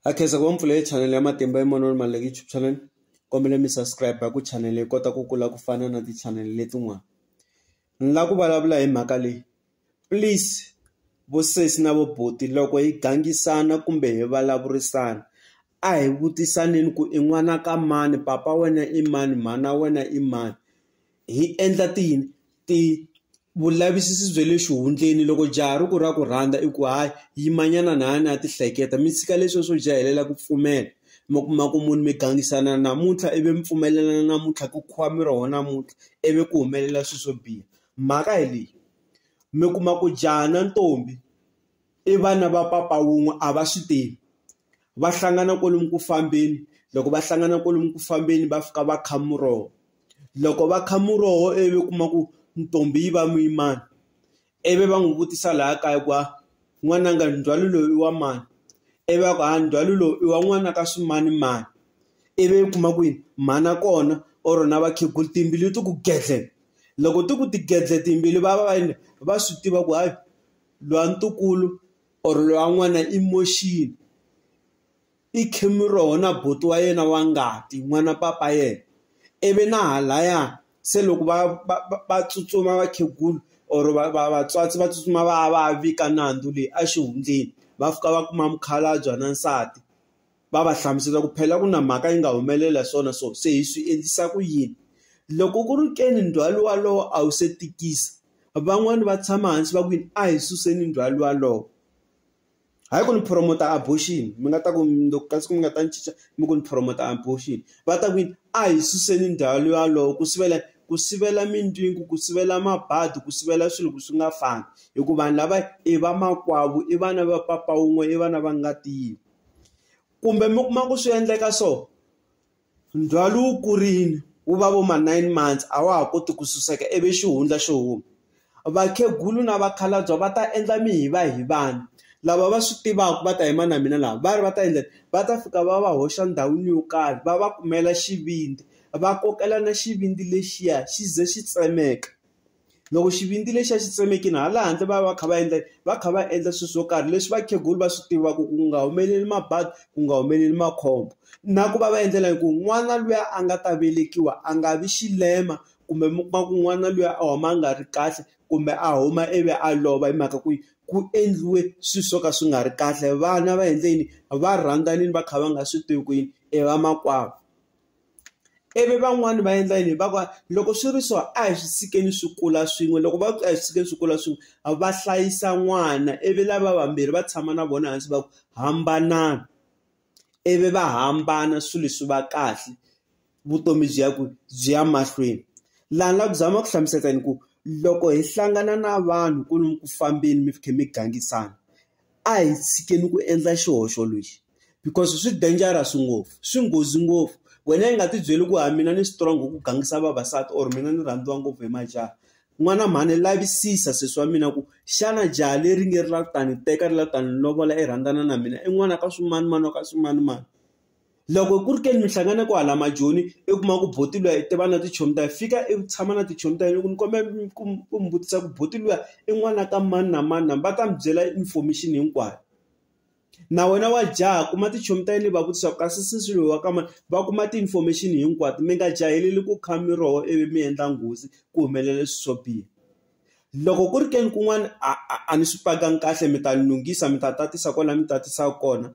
ha khensa ku va mpfula hi chanel ya matimba hi manoni maluleke YouTube channel kombela mi subscribe ku channel yi kota ku kula ku fana na ti-channel letin'wana ni lava ku vulavula hi mhaka leyi please vosesi na voboti loko hi gangisana kumbe hi vulavurisana a hi vutisaneni ku i n'wana ka mani papa wena i mani mhana wena i mani hi endla ti yini ti vulavisisi bya le xihundleni loko jaha ri ku ra ku rhandza i ku hayi yimanyana na yona ya tihleketa mi tshika leswiya swo jahelela ku pfumela mi kuma ku munhu mi gangisana namuntlha ivi mi pfumelelana namuntlha ku khuwa mi roho namuntlha ivi ku humelela swilo swo biha mhaka hi leyi mi kuma ku jaha na ntombi i vana va papa wun'we a va swi tivi. va hlangana kwalomu ku fambeni loko va hlangana kwalomu ku fambeni va fika va kha muroho loko va kha muroho ivi u kuma ku ntombi yi va muyimani ivi va n'wi vutisa laha kaya ku a n'wananga ndzhwalo lowu i wa mani ivi va ku ha ndzhwalo lowu i wa n'wana ka swimani mani ivi u kuma ku yini mhana kona or na vakhegula timbilu ti ku gedle loko ti ku ti gedle timbilu va va va yini va swi tiva ku hayi lowa ntukulu or loyi wa n'wana i moxini i khemiroho na buti wa yena wa ngati n'wana papa yena ivi na halaya se loko va va va tsutsuma vakhegulu or vatswatsi va tsutsuma va ya va ya vika nandzu leyi exihundleni va fika va kuma mukhalabye na nsati. va va hlamusela ku phela ku na mhaka yi nga humelela swona so se hi swi endlisa ku yini loko ku ri keni ndzhwalo walowo a wu se tikisa van'wani va tshama hansi va ku yini a hi suseni ndzhwalo walowo hayi ku ni promoter abortion mi nga ta ku loko kasi ku mi nga ta ni cinca mi ku ni promoter abortion va ta ku yini a hi suseni ndzhwalo walowo ku sivela ku sivela mindyangu ku sivela mabadi ku sivela swilo ku swi nga fani hikuva vanhu lava i va makwavo i vana va papa wun'we i vana va nga tivi. kumbe mi kuma ku swi endleka so ndzhwalo wu kurile wu va vo ma nine months a wa ha koti ku suseka ivi xihundla xo huma vakhegulu na vakhalabye va ta endla mi hi va hi vanhu lava va swi tivaka va ta yima na mina lava va ri va ta endla va ta fika va va hoxa ndhawini yo karhi va va kumela xivindzi va kokela na xivindzi lexiya xi ze xi tsemeka loko xivindzi lexi a xi tsemekini hala handle va va kha va endla va kha va endla swilo swo karhi leswi vakhegula va swi tivaka ku nga humeleli mabadi ku nga humeleli makhombo na ku va va endlela hi ku n'wana luya a nga ta velekiwa a nga vi xilema kumbe mi kuma ku n'wana luya a huma a nga ri kahle kumbe a huma ivi a lova hi mhaka ku ku endliwe swilo swo ka swi nga ri kahle vana va endleni va rhandzanile va kha va nga swi tivi ku yini i vamakwavo. ivi van'wani va endla yini va ku loko swi ri so a hi swi tshikeni swi kula swin'we loko va ku a hi swi tshikeni swi kula swin'we va hlayisa n'wana ivi lava vambirhi va tshama na vona hansi va ku hambanani ivi va hambana swilo leswi va kahle vutomi byi ya ku byi ya mahlweni laha ni la ku zama ku hlamusela ni ku loko hi hlangana na vanhu ku lomu ku fambeni mi kha mi gangisana A hi tshikeni ku endla xihoxo lexi because swi dangerous ngopfu, swi nghozi ngopfu. Wena i nga ti byeli ku ha mina ni strong ku gangisa vavasati or mina ni rhandziwa ngopfu hi majaha. N'wana mhani lavisisa sesi wa mina ku xana jaha leri nge ri lava ku ta ni teka ri lava ku ta ni lovola i rhandzana na mina i n'wana ka swimanimani wa ka swimanimani. Loko ku ri ke ni mi hlangana kwahala majoni i kuma ku buti luya i tiva na tichomi ta fika i tshama na tichomi ta yena ku ni kombela ku ku mi vutisa ku buti luya i n'wana ka mani na mani na va ta mi byela information hinkwayo na wena wa jaha kuma tichomi ta yena i va vutisa ku kasi sesi loyi wa ka mani va kuma ti-information hinkwato mi nga jaheli ku kha mi roho ivi mi endla nghozi ku humelela swi swo biha loko ku ri ke ni kun'wana a a a ni swi pakanga kahle mi ta ni lunghisa mi ta tatisa kwala mi tatisa kona.